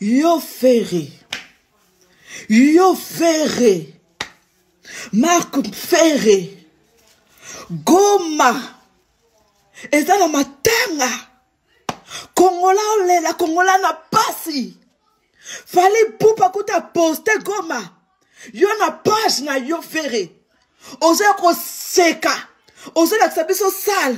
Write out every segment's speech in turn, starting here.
Yo Ferre. Yo Ferre. Marc Ferre. Goma. Eza na matanga. Kongola olela, Kongola na pasi. Fali pupa kuta poste Goma. Yo na page na yo Ferre. Ozoya koseka. Ozolakisa biso sale.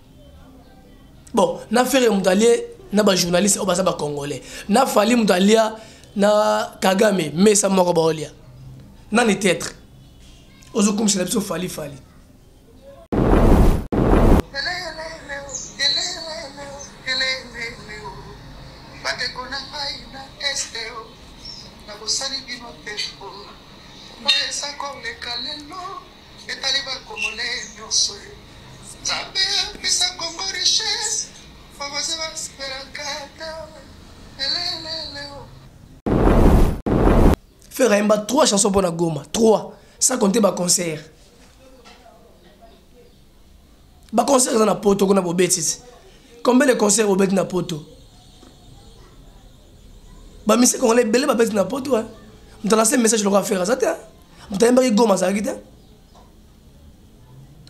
bon na fere moto alie na bajournaliste oyo baza bacongolais na fali moto alia na kagame mesa moko baolia nani tetre ozokumisela biso fali fali Bosali bino te, oyo eza koleka lelo Etali ba congolais nionso. Nzambe apesa Congo richesse. Bakoze ba sperakata. Eleleleo. Ferre ayemba 3 chansons mpo na Goma. 3 sans compter ba concert. Ba concert eza na poto kuna bobetisi. Combien de concerts obeti na poto? Ba misik congolais ebele babeti na poto. Hein? Mtalase message lokola Ferre aza te. Hein? moto ayembaki goma azalaki te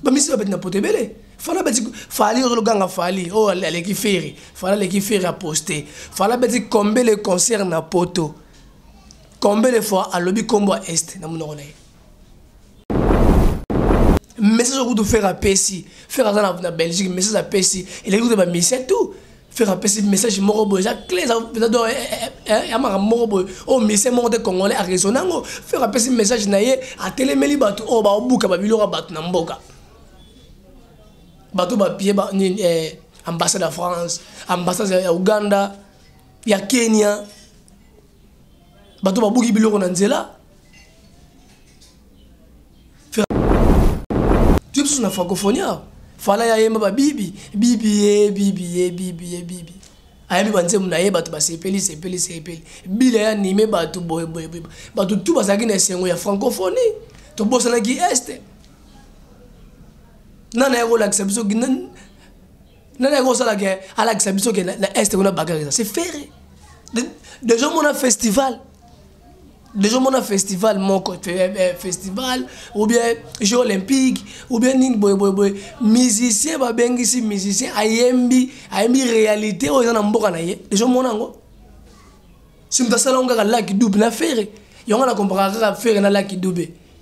bamisi babeti na poto ebele fala beti fali ozologanga fali oyo oh, aleki feri fala aleki feri aposte fala beti combele concert na poto combele fois alobi nkombo ya est na monoko na ye message okutu fere apesi fere aza na belgique message apesi eleki kuta bamisien tout Ferre apesi message moko boye eza cle eza do eh, eh, eh, ya makambo moko boye oyo musicien moko te congolais araisonne yango Ferre apesi message na ye atelemeli bato oyo baobuka babiloko ya bato na mboka bato bapie ambassade ya france ambassade ya uganda ya kenya bato babuki biloko na nzela tue biso na francophonie awa fala ya yemba babibi bibi ye bibi ye bibi ye bibi ayebi banzembo na ye bato basepeli sepeli sepeli bila ya anime bato boyeboye bato tu bazalaki na esengo ya francophonie tobosanaki este nana ya kolakisa biso nani yango osala ke alakisa biso ke na est kuna bakar eza c'est ferre deja omona festival deja omona festival moko eh, eh, festival ou bien jeu olympique ou bien nini boyeboyeboye musicien babengisi musicien ayembi ayembi réalité oyo eza na mboka na ye deja omona yango si moto asala yango kaka laki dube na ferre yango na komparaka kaka ferre na laki dube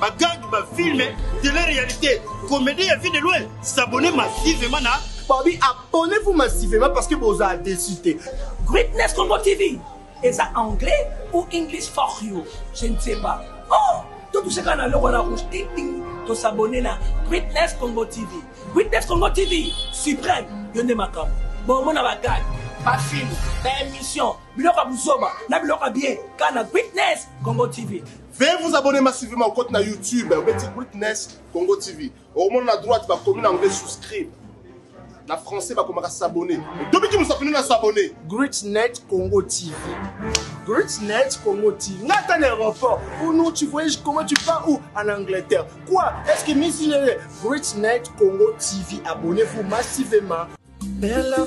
bagangi bafilme tele réalité comédie ya vie de loin s'abonne massivement na babi abonnez-vous massivement parce que bozala déçu te greatness congo tv eza anglais ou english for you je ne sais pas oh totushaka na loko na rouge tingting tosabone na greatness congo tv greatness congo tv suprême yo nde makambo bomona bagage bafilme baémission biloko ya buzoba na biloko ya bien kana greatness congo tv Veuillez vous abonner massivement au compte na YouTube obeti Witness Congo TV. Okomona na droite bakomi na anglais souscribe. Na français bakomaka s'abonner. Tobiki musapino na s'abonner. Greatnet Congo TV. Greatnet Congo TV. Nga ata na aéroport. Ou non tu voyages comment tu pars où en Angleterre. Quoi Est-ce que Miss Greatnet Congo TV abonnez-vous massivement. Bella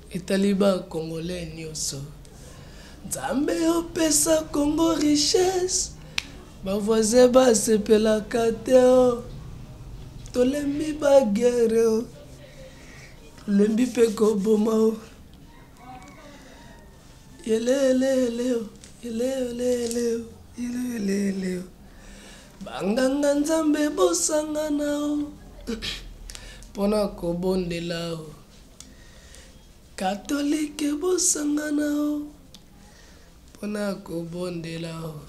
Etali ba congolais nioso. Nzambe opesa congo richesse ba voisin ba sepelaka te oh. Tolembi ba guerre oh. Tolembi pe koboma oh. Yelelele oh. Yelelele oh. Yelelele oh. Banganga nzambe bosangana oh. Pona kobondela oh. Katolike bosangana o mpo na kobondela o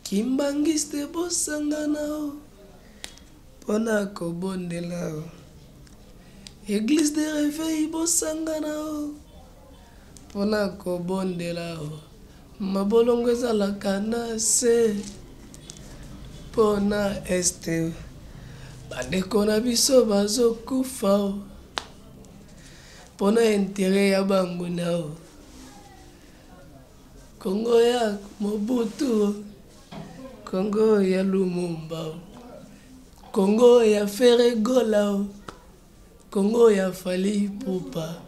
Kimbanguiste bosangana o mpo na kobondela o Eglise de reveil bosangana o Pona kobondela o mabolongo ezalaka na se pona este bandeko na biso bazokufa o pona intere ya banguna o kongo ya mobutu o kongo ya lumumba o kongo ya feregola o Congo ya Fally Ipupa,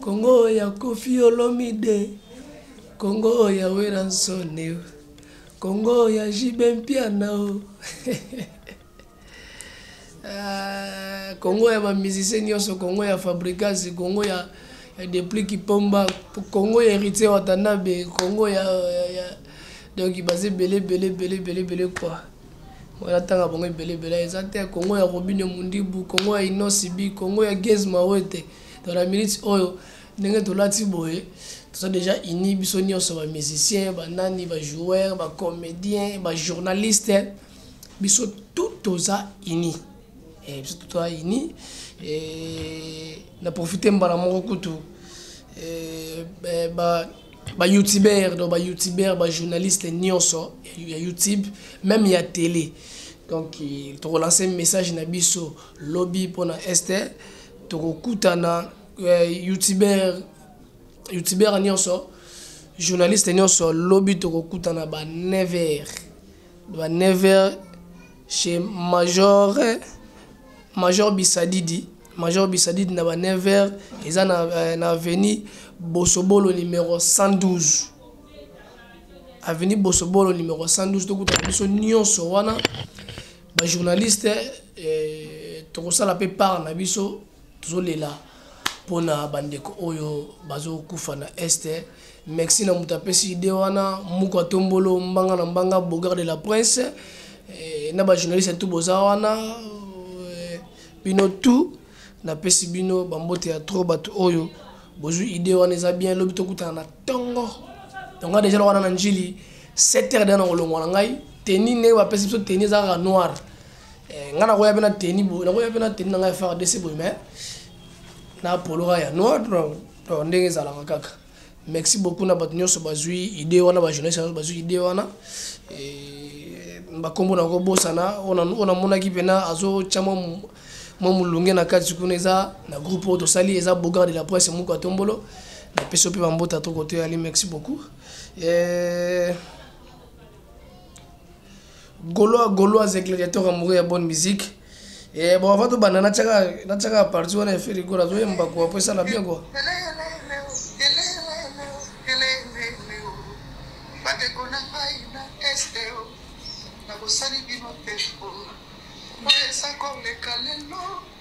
Congo ya Koffi Olomide, Congo ya Werrason, Congo ya JB Mpiana, ah, Congo ya ba musiciens nyonso, Congo ya Fabricas, Congo ya ya Depli Kipomba, Congo ya Heritier Watanabe, Congo ya, ya, ya donc baza ebele ebele ebele ebele ebele quoi. Voilà tanga bongo ebele ebele eza te Congo ya Robine Mundibu, Congo ya Inosi Bi, Congo ya Gez Mawete. Dans la minute oyo ndenge tolati boye toza déjà unis biso nyonso ba musiciens, ba nani, ba joueurs, ba comédiens, ba journalistes. Biso tout toza unis. Eh, biso tout toza unis et na profiter mbala moko kutu eh, eh, ba ba youtubeur donc ba youtubeur ba journaliste nyonso ya youtube même ya télé donc eh, tokolanse message na biso lobi mpona este tokokutana eh, youtubeur youtubeur nyonso journaliste nyonso lobi tokokutana ba 9 heures ba 9 heures chez major major bisadidi Major Bisadid na ba 9h eza na euh, na avenue Bosobolo numéro 112. Avenue Bosobolo numéro 112 tokuta biso nyonso wana ba journaliste eh, tokosala mpe part na biso tozolela mpona bandeko oyo bazokufa na este merci na moto apesi ide wana muku atombolo mbanga na mbanga bogar de la prince eh, na bajournaliste tu boza wana Bino tout na pesi bino ba mbote ya trop bato oyo bozwi idee wana eza bien lobi tokutana na tongo tongo deja loka na njili 7 heures deja na kolongwa na ngai teni ndenge bapesi biso teni eza kaka noir eh, ngai nakoya mpe na teni boye nakoya mpe na teni na ngai ya fardc boye mais na poloka ya noir ndenge ezalaka kaka Merci beaucoup na bato nyonso bazwi idée wana ba journaliste nyonso bazwi idée wana bakombo na kobosana oyo namonaki mpena azotya mwa mwa molunge na kati kuna eza na groupe oyo tosali eza bogard de la presse moko atombolo napesi yo mpe bambota to kotoyali merci beaucoup eh... Golois Golois et gladiateur amoureux ya bonne musique. Et bon avant de banda na tchaka na tchaka partie on a fait le gola zoye mbako après ça na bien quoi. bandeko na ngai na este o nakosali bino te oyo eza koleka lelo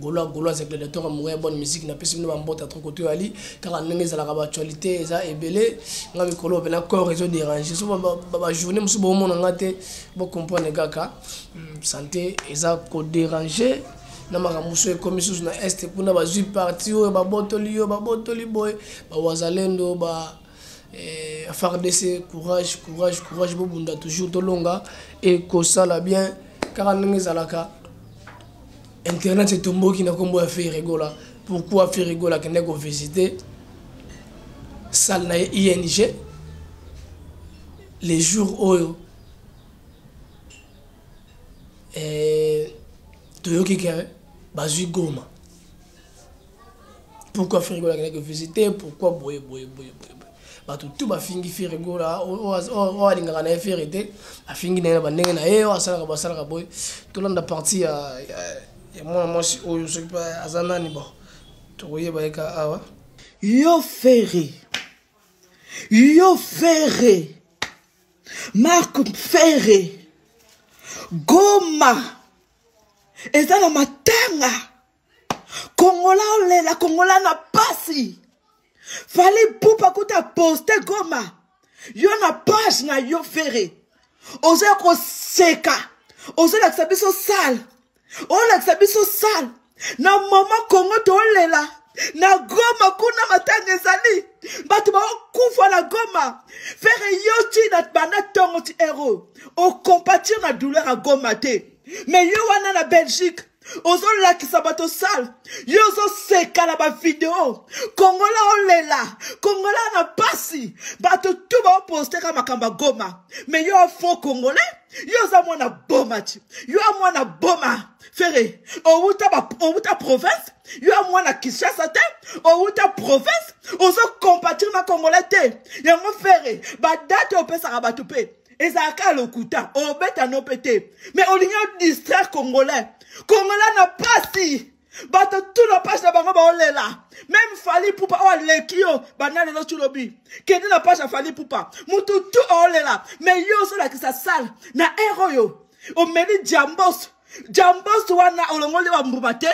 golo golo aza gladiateur ya moya bonne musique na pesi bino bambota trop koto yali kaka ndenge ezalaka baactualité eza ebele nga mikolo mpena corps ezo dérange so bajournée mosusu bomona nga te bocomprendre kaka hmm, santé eza koderange na makambo mosusu ekomi susu na este kuna bazwi parti oyo babotoli yo babotoli boye bawazalendo ba, ba, ba Eh, fardc courage courage courage bobunda toujours tolonga ekosala bien kaka ndenge ezalaka internet etomboki na nkombo ya ferregola pourquoi ferregola akendaki kovisite salle na ye ing le jour oyo eh, toyoki ke bazwi goma pourquoi ferre gola akelaki visite pourquoi boye boye boye boye bato tu bafingi ferre gola oyo alingaka na ye ferre te afingi na ye na bandenge na ye oyo asalaka basalaka boye tolanda parti ya mwana mwasi oyo soki mpe aza nani bo tokoyeba ye ka awa yo ferre yo ferre mark ferre goma eza na matanga kongola olela kongola na pasi fali pupa kuta poste goma yo na page na yo fere ozoya koseka ozolakisa biso sale olakisa biso sale na mama kongo tolela na goma kuna matanga ezali bato baokufa na goma fere yo ti na banda ntongo ti ero okompatir na douleur ya goma te me yo wana na belgique ozolakisa bato sale yo ozoseka na bavideo kongola olela kongola na mpasi bato tu baoposteka makambo ya goma me yo afo kongole yo oza mwana boma ti yo ya mwana boma fere owuta, ba, owuta province yo ya mwana kinshasa te owuta province ozokompatire na kongole te yango fere badate opesaka bato mpe ezala kaka lokuta obeta no mpe te mais olingi odistraire congolais congolais na mpasi bato tu na page na bango baolela meme fali pupa oyo aleki yo banda lelo tulobi kende na page ya fali pupa motu tu aolela me yo ozolakisa sale na ere oyo omeli jambos jambos wana olongoli bambuma te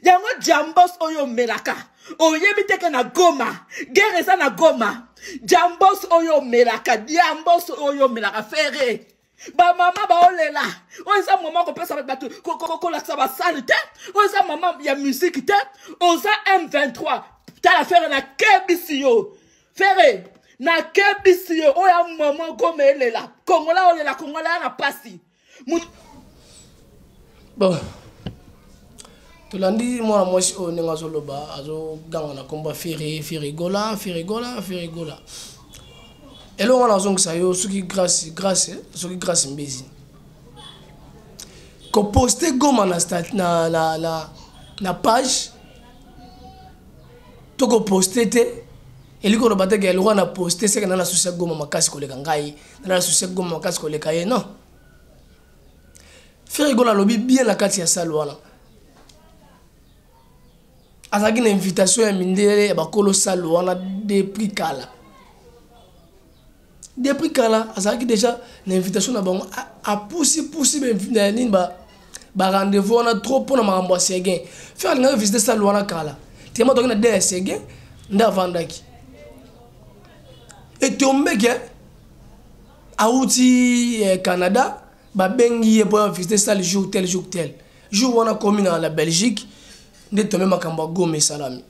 yango jambos oyo omelaka oyebi teke na goma gere eza na goma jambos oyo omelaka jambos oyo omelaka fere bamama baolela oyo eza mama kopesa bato kolakisa basali te oyo eza mama ya musike te oza m23 tala fere nakebisi yo fere nakebisi yo oyo ya mama goma elela kongola olela kongola ya na mpasi bon tolandi mwana mwasi oyo ndenge azoloba azoganga na nkombo ya firi firigola firigola firigola eloko wana azongisa yo soki grace grace soki grace mbezi koposte goma na, na, na, na, na page to koposte te elingi koloba te ke eloko na poste seke na na susi ya goma makasi koleka ngai na susi goma makasi koleka ye non frere gona alobi bien na kati ya sale wana azalaki na invitation ya mindele ya bakolo sale wana depuis kala depuis kala azalaki déjà na invitation na bango apusipusi nini barendez-vous wana trop mpo na makambo ya seguin frere alingaki visite sale wana kala telema toki na de ya seguin nde avandaki etombeke awuti eh, canada babengi ye mpo ya visite sale jour tel jour tel jour wana komi na la belgique nde tombe makambo ya goma esalami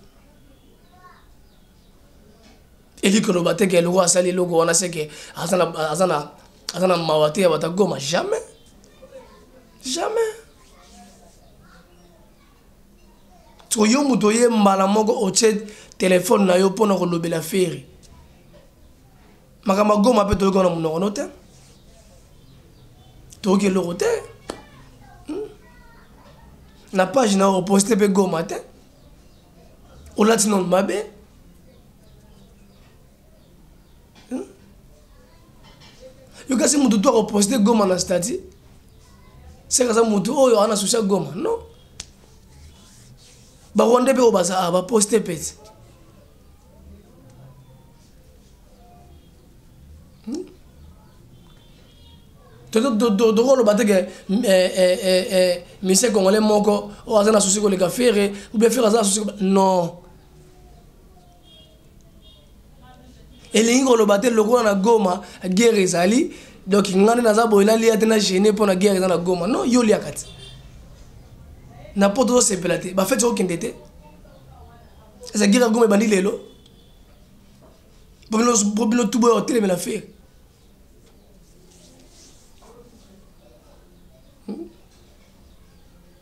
eli koloba te ke eloko asali eloko wana seke aza na mawa te ya bato ya goma jamais jamais Siko yo moto oye mbala moko otie telefone na yo mpo na kolobela feri makambo agoma mpe toyoki wana monoko no te toyoki eloko te hmm? na page na oposte mpe goma te olati nano mabe hmm? yo kasi motu to akoposte goma na stati seka aza motu oyo ana susi ya goma non barwandais mpe oyo baza ah, baposte pete tokoloba te ke misie congolais moko oyo aza na susi koleka fere oubien fere aza na susi non elingi koloba te lokola na goma guerre ezali donc ngai nde naza boye nalia te na gene mpo na guerre eza na goma non yo oliaka te na poto tozosepela te bafeti okokende te eza guerre ya goma ebandi lelo mpo bino tuboya kotelemela fere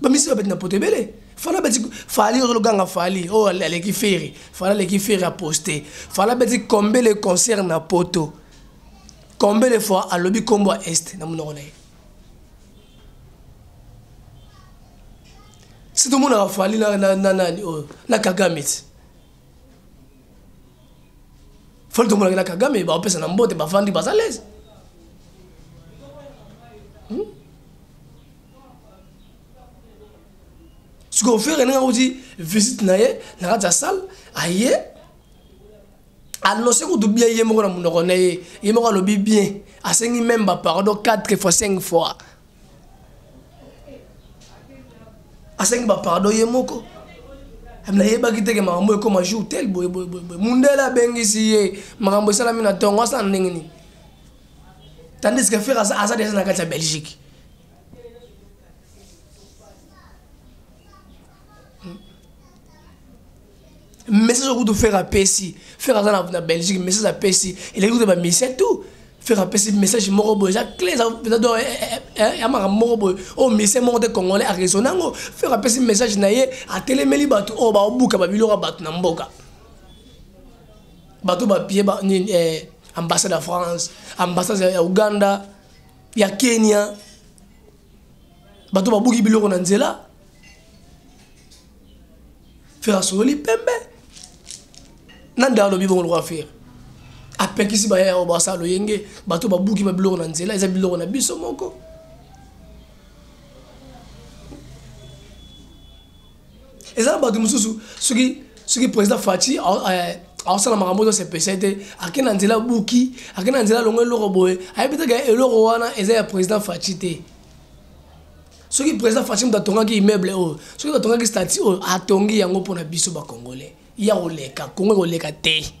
bamisi babeti na poto ebele fala beti fali ozologanga fali oyo oh, aleki feri fala aleki feri aposte fala beti combien le concert na poto combien le fois alobi nkombo ya est na monoko na ye si tomonaka fali na nani oyo oh, na kagame ti fali tomonaki na kagame baopesa na mbote bafandi baza lese hmm? sikoyo fere ndenge akuti visite na ye na kati ya salle aye anonse kutu bien ye moko na monoko na ye ye moko alobi bien asengi meme bapardon 4 fois 5 fois asengi bapardon ye moko nayebaki teke makambo ekoma jour tel boye boye boye boye mundele abengisi ye makambo esalami na ntongo asala ndenge nini tandis que fere aza deja na kati ya belgique message okutu faire apesi faire aza na belgique message apesi eleki kutu bamisien tout faire apesi message moko boye eza cle eza do ya makambo moko boye oyo misien moko te congolais araisonne yango faire apesi message na ye atelemeli bato oyo baobuka babiloko ya bato na mboka bato bapie nini eh, ambassade ya france ambassade ya uganda ya kenya bato babuki biloko na nzela fere asololi pembe na nde alobi bongo lokola fere apekisi bayaya oyo basala loyenge bato babuki babiloko na nzela eza biloko na biso moko eza na bato mosusu soki soki président faci aosala makambo ozo sepesa ete ake na nzela buki ake na nzela longo eloko boye ayebi te ke eloko wana eza ya président faci te soki président faci moto atongaki immeuble oyo soki moto atongaki stati oyo atongi yango mpona biso bacongolais ya koleka kongo ekoleka te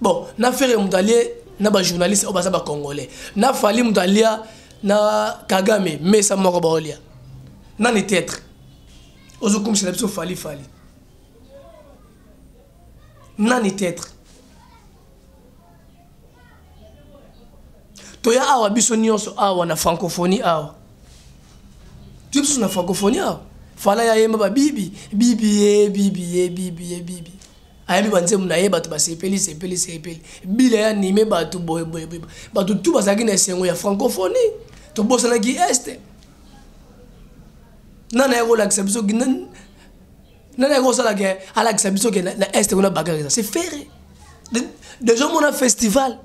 bon na fere moto alie na bajournaliste oyo baza bacongolais na fali moto alia na kagame mesa moko baolia nani tetre ozokumisela biso fali fali nani tetre toya awa biso nyonso awa na francophonie awa toya biso na francophonie awa fala ya yemba babibi bibi ye bibi ye bibi ye bibi ayambi banzembo na ye bato basepeli sepeli sepeli bila ya nime bato boyeboye bato tu bazalaki na esengo ya francophonie tobosanaki este nani ayaki kolakisa biso nani ayaki kosala ke alakisa biso ke na este kuna bakaka eza se ferre deja omona festival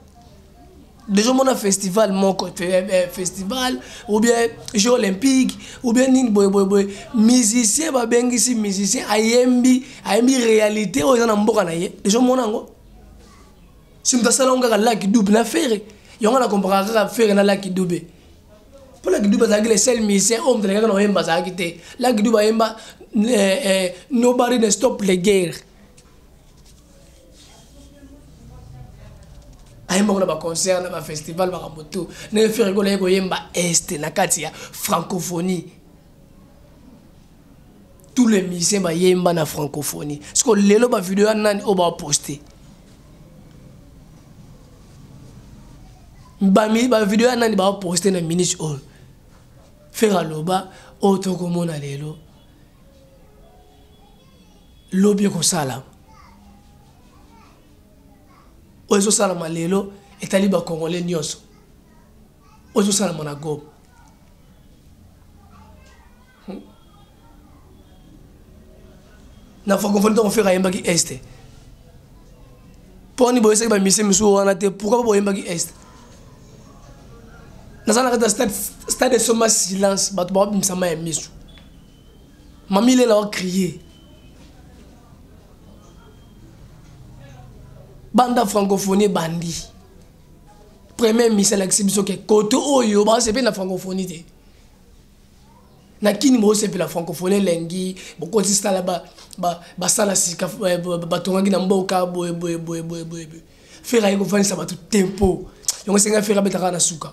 deja omona festival moko eh, eh, festival ou bien jeu olympique ou bien nini boyeboyeboye musicien babengisi musicien ayembi ayembi réalité oyo eza na mboka na ye deja omona yango si moto asala yango kaka laki dube na fere yango na komparaka kaka fere na laki dube mpo laki dube azalaki le seul musicien oyo moto alekaka na oyemba azalaki te laki dube ayemba eh, nobody ne stop le guerre ayembaka na baconcert na bafestival makambo to ndenge ferigolo aye koyemba este na kati ya francophonie tous les musiciens bayemba na francophonie siko lelo bavideo ya nani oyo baposte bavideo ya nani baposte na minute oyo fere aloba oyo tokomona lelo lobi ekosalama oyo ezosalama lelo etali bakongole nyonso oyo ezosalama na goma hmm? na francophonie ntango fere ayembaki este mponi boyesaki bamisie misusu wana te pourkoi boyembaki este naza na kati ya stade esomba silence bato bakobimisama ya miso Mami Lela o crier. Banda francophonie bandi. Premier ministre alakisi biso ke kote oyo basepeli na francophonie te. na kini bosepela francophonie elengi bokosi sala basala sika eh, batongaki na mboka boye boye boye boye boye fere aye kofandisa bato tempo yango esengai fere abetaka na suka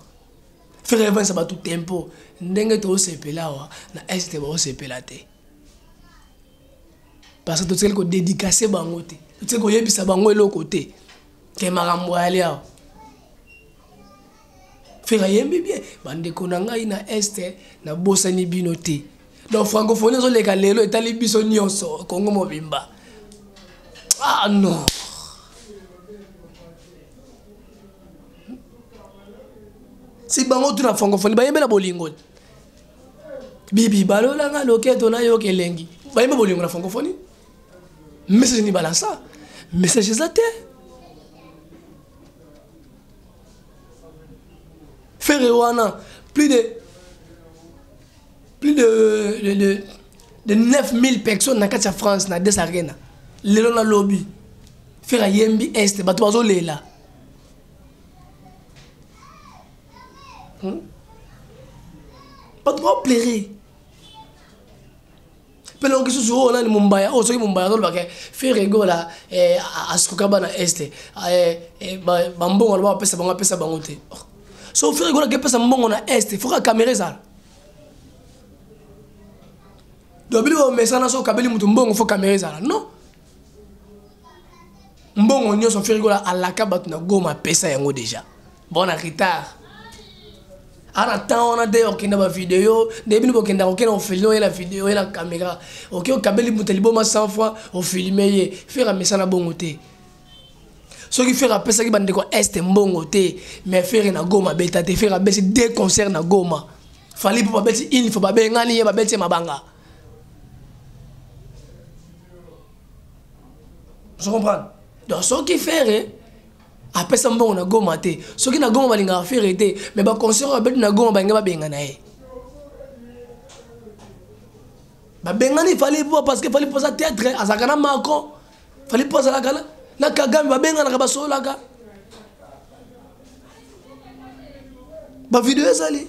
Ferre Evans bato tempo ndenge tosepela awa na este baosepela te parce que totikali kodedikase bango te totikali koyebisa bango eloko te ke makambo ayali awa fere ayembi bien bandeko na ngai na este nabosani bino te donc francophonie ezoleka lelo etali biso nyonso kongo mobimba ah non si bango tuna francophonie bayembe na bolingo bibi balolanga loketo na yo kelengi bayembe bolingo na francophonie message ni balansa message eza te ferre wana plus de plus de, de, de, de 9000 personnes na kati ya france na des arena lelo na lobi ferre ayembi este bato bazolela hmm? bato baoplere mpe longo lisusu oyo nani mombaya oyo soki mombaya azolobaka feregola eh, asukuka bana este eh, eh, bambongo aloba bapesa bango apesa bango te oh. so feregola akepesa mbongo na este foka kamera ezala dobili bamesana so okabeli moto mbongo fo kamera ezala non mbongo nyonso ferikola alaka bato na goma apesa yango deja bon na retard ana temps wana nde okenda bavideo nde bino bokenda kokenda ofilme oye na video oye na kamera oke okabeli moto liboma 100 fois ofilme ye fere amesana bongo te soki fere apesaki bandeko este mbongo te mais fere na goma abeta te fere abeti deux concert na goma fali mpo babeti une fois babengani ye babeti ye mabanga ozo comprendre donc soki ferre apesa mbongo na goma te soki na goma balingaka ferre te mais baconcert babeti na goma balingi babengana ye babengani fali po parce que fali poza théâtre azalaka na macron fali mpo azalaka na na kagame babenganaka basololaka bavideo ezali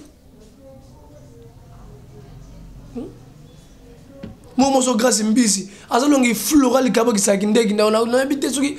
hmm? mo moso grace mbisi azalongi flora likabo kisaki ndeki ndao nayebi te soki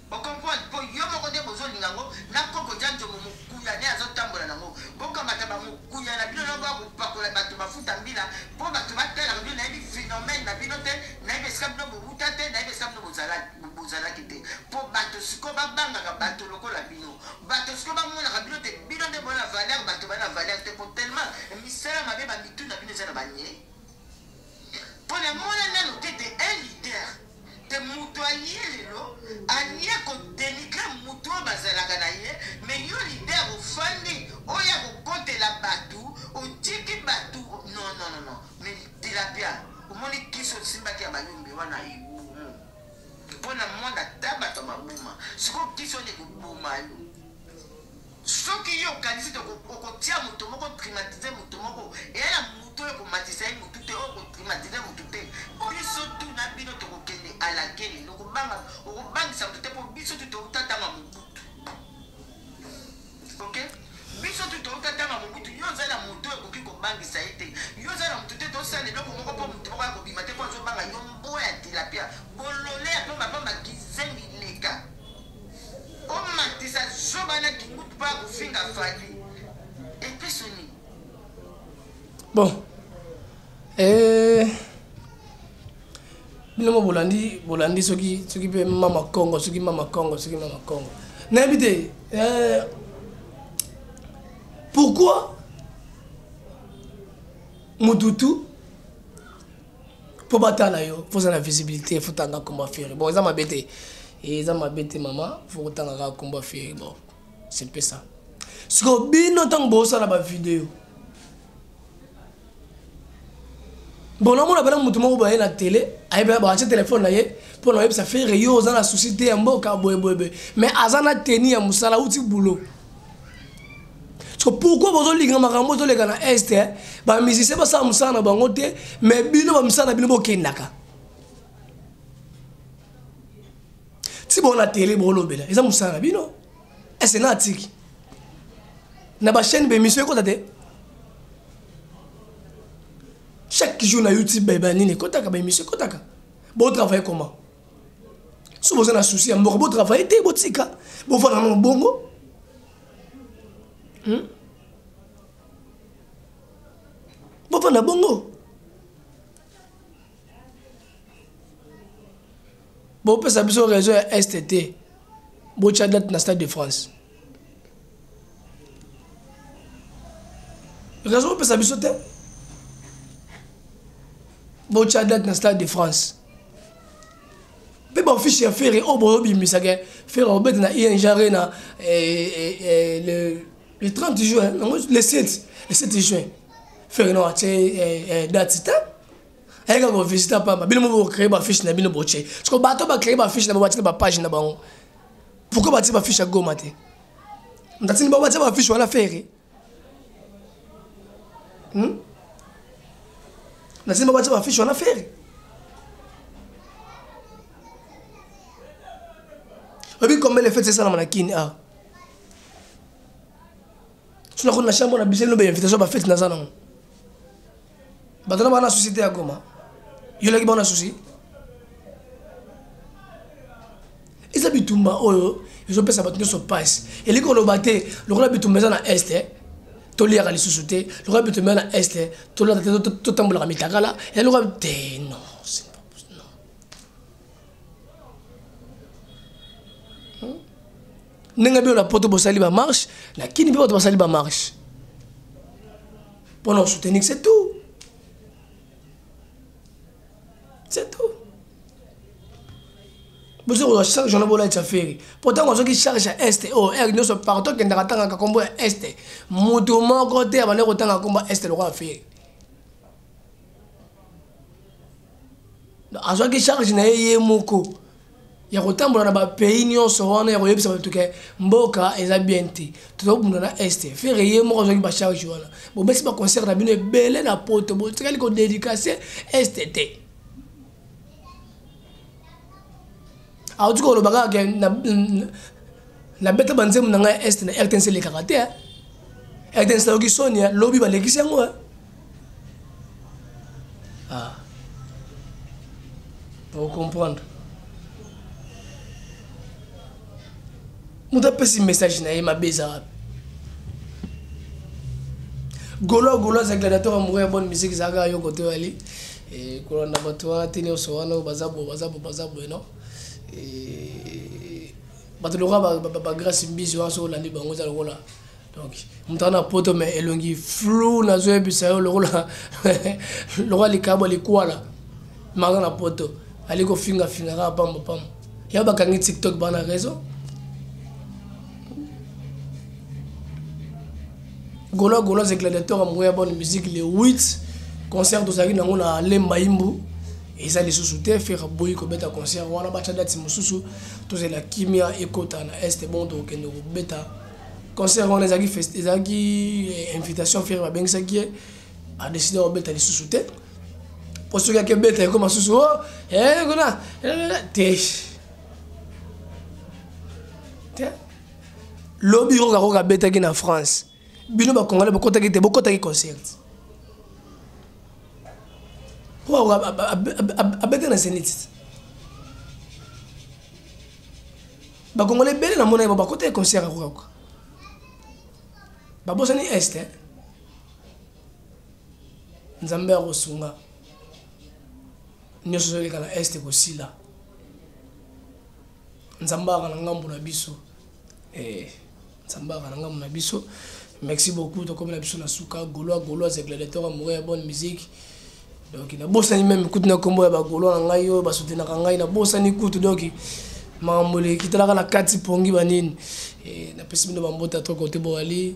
Bo comprendre po yo moko nde bozo linga ngo na koko dja ndjombo mukuya nde azo tambola na ngo bo kamata ba mukuya na bino na boya ko pakola batu mafuta mbila po batu ba talaka bino na yebi phenomène na bino te na yebi esika bino bo wuta te na yebi esika bino bo zalaki te po batu siko ba bangaka batu lokola bino batu siko ba monaka bino te bino nde bo na valeur batu ba na valeur te po tellement misala mabe ba mitu na bino eza na ba nye po na mona nanu te te un leader te mutu alie lelo alie ko denigre mutu oyo bazalaka na ye me yo lider ofandi oya kokotela batu otiki batu non non non me tilapia omoni kisi osimbaki ya bayombe wana ibu mpo na mwana ata bato ya maboma sikoyo kiso nde koboma yo Soki yo okanisi te okotia moto moko otrmatize moto moko eya na moto oyo ekomatisa ye motu te oyo kotrmatize motu te biso tu na bino tokokende alakeli nokobanga okobangisa motu te mpo biso tu touta ntango ya mobutu ok biso tu touta ntango ya mobutu yo oza na moto oyo ekoki kobangisa ye te yo oza na motu te tosala eloko moko mpo motu moko ya kobima te mpo azobanga yo mbo ya tilapia bolole ya pamba pamba kizengi leka Omatisa zoba na kingutu pa kofinga Fally. Epeso nini? Bon. Eh bino mo bolandi bolandi soki soki mpe mama kongo soki mama kongo soki mama kongo nayebi te eh, pourquoi mututu mpo batala yo fo oza na visibilité fo tanga komba feri bon eza mabe te eh, eza mabe te mama fo kotanga kaka komba feri bon c'est mpe ça sikoyo bino ntango bosala bavideo bon namona bana moto moko baye na tele ayebela baatye telefone na ye mpo na oyebisa fere yo oza na souci te ya mboka boyeboyeboye mais aza na teni ya mosala uti boulot so pourquoi bozolinga makambo ezoleka na este eh? bamusicien basala mosala na bango te mais bino bamisala na bino bokendaka ti bona tele bolobela eza mosala na bino ese na atiki na bachaîne bemission ekota te chaque jour na youtube banini ekotaka baemission ekotaka botravaille comment soki boza na souci ya mboka botravaille te botika bofanda na mobongo hmm? bofanda bongo bopesa biso réseau ya est te botya date na stade de france réseau bopesa biso te botya date na stade de france mpe baofisi ya fere oyo boyobimisaka fere obete na ing arena eh, eh, eh, le, le 30 juin nango le 7 le 7 juin fere no atie date te ayeka kovisita mpamba bino moko bocree bafiche na bino botie soko bato bacree bafiche na bango batina bapage na bango pourkoi batie bafiche ya goma te ntatini bango batia bafiche wana fere hmm? nasimba batia bafiche wana fere oyebi combien lefete esalama na kini awa so nakoni na chambre na biso elobe invitation bafete naza nango bato na bana susi te ya goma yolaki bana susi eza bitumba oyo ezopesa bato nyonso mpasi elingi koloba te lokola bitumba eza na este eh, toliaka lisusu te lokola bitumba eza na este eh, tolata te totambolaka mitakala elokola te non hmm? ndenge bino na poto bosali bamarche na kini mpe bato basali bamarche mpo na osoutenir c'est tout c'est tout bozo kozwa charge wana bolatisa feri mpo ntango azwaki charge ya este o r nyonso partout akendaka atangaka nkombo ya este moto moko te abandaki kotanga nkombo ya este lokola feri azwaki charge na ye ye moko ya kotambola na bapays nyonso wana ya koyebisa bato ke mboka eza bien te tozakobunda na este fere ye moko azwaki bacharge wana bobesi baconcert na bino ebele na poto botikali kodedikase este te auti koloba kaka ke nabeta banzembo na ngai este na rtnc elekaka te rtnc nayoki soni lobi balekisi yango ah. ocomprendre moto apesi message na ye mabe eza wapi golo golo aza gladiateur amoureux ya bonne musique ezalaka yoko to yali Eh, kolanda bato wana te nyonso wana oyo baza boye baza boye baza boye non eh, bato lokola bagrace mbizi wana soki olandi bango eza lokola donc moto wana poto mai elongi flou nazoyebisa yo lokola lokola likabo likwala maza na poto ali kofingafinga kaka pamba pamba yango bakangi tiktok bana raison golois golois et gladiateur ya moko ya bonne musique le 8 concert tozalaki nango na lemba imbu eza lisusu te fere aboyi kobeta concert wana batya dati mosusu tozela kimia ekota na este bon tokokende kobeta concert wana ezalaki ezalaki eh, invitation fere babengisaki ye adeside kobeta lisusu te mpo soki akebeta ekoma susu o oh, eh, kuna eh, te te lobi oyo kakoka abetaki na france bino bakongole bokotaki te bokotaki concert po abeta na zenit bakongole ebele na mona yebo bakotaki concert akokakoka babosani este eh? nzambe akosunga nyonso ezoleka na este kosila nzambe aka na ngambo na biso eh, nzambe aka na ngambo na biso merci beaucoup tokomi na biso na suka goloa goloa zegledetor amoureux ya bonne musique donc nabosani meme kutu na nkombo ya bagoloa na ngai oyo basutenaka ngai nabosani kutu donc makambo elekitelaka na kati pongi banini eh, napesi bino bambota to kote boali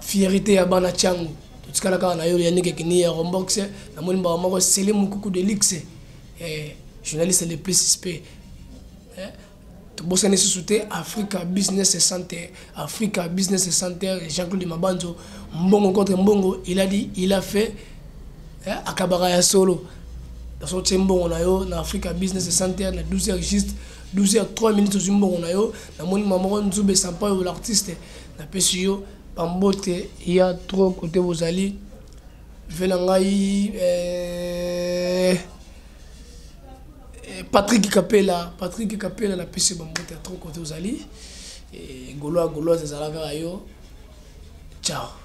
fierite ya bana changu totikala kaka na yo ya nike kini ya rombox namoni mbaka moko sele mokuku de luxe eh, journaliste le plus suspect eh, tobosani lisusu te africa business center africa business center jean-claude mabanzo mbongo contre mbongo il a dit il a fait eh, akabaka ya solo naso tie mbongo na yo na africa business center na 12 heures juste 12 heures 3 minutes ozwi mbongo na yo namoni mamoko nzube sampayo l'artiste napesi yo bambote ya tro kote bozali ve na ngai eh, eh, patrik kapela patrik kapela napesi bambote ya tro kote ozali eh, goloa goloise ezala kaka yo ciao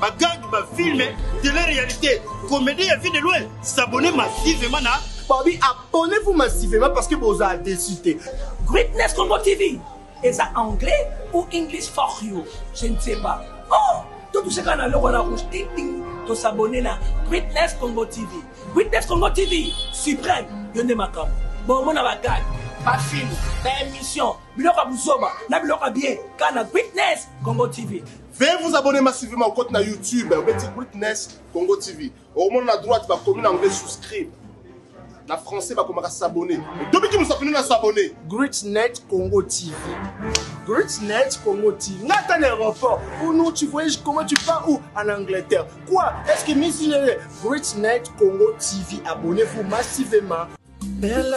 bagangi bafilme tele réalité comédie ya vie de loin s'abonne massivement na babi abonnez-vous massivement parce que bozala déçu te greatness congo tv eza anglais ou english for you je ne sais pas oh totuseka na loko na rouge tingting tosabone na greatness congo tv greatness congo tv suprême yo nde makambo bomona bagage bafilme baémission biloko ya buzoba na biloko ya bien kana greatness congo tv Veuillez vous abonner massivement au compte na YouTube obeti Witness Congo TV. Okomona na droite bakomi na anglais souscribe. Na français bakomaka s'abonner. Tobiki musapino na s'abonner. Greatnet Congo TV. Greatnet Congo TV. Nga ata na aéroport. Oh non, tu voyages comment tu pars où En Angleterre. Quoi Est-ce que Miss Greatnet Congo TV abonnez-vous massivement. Bella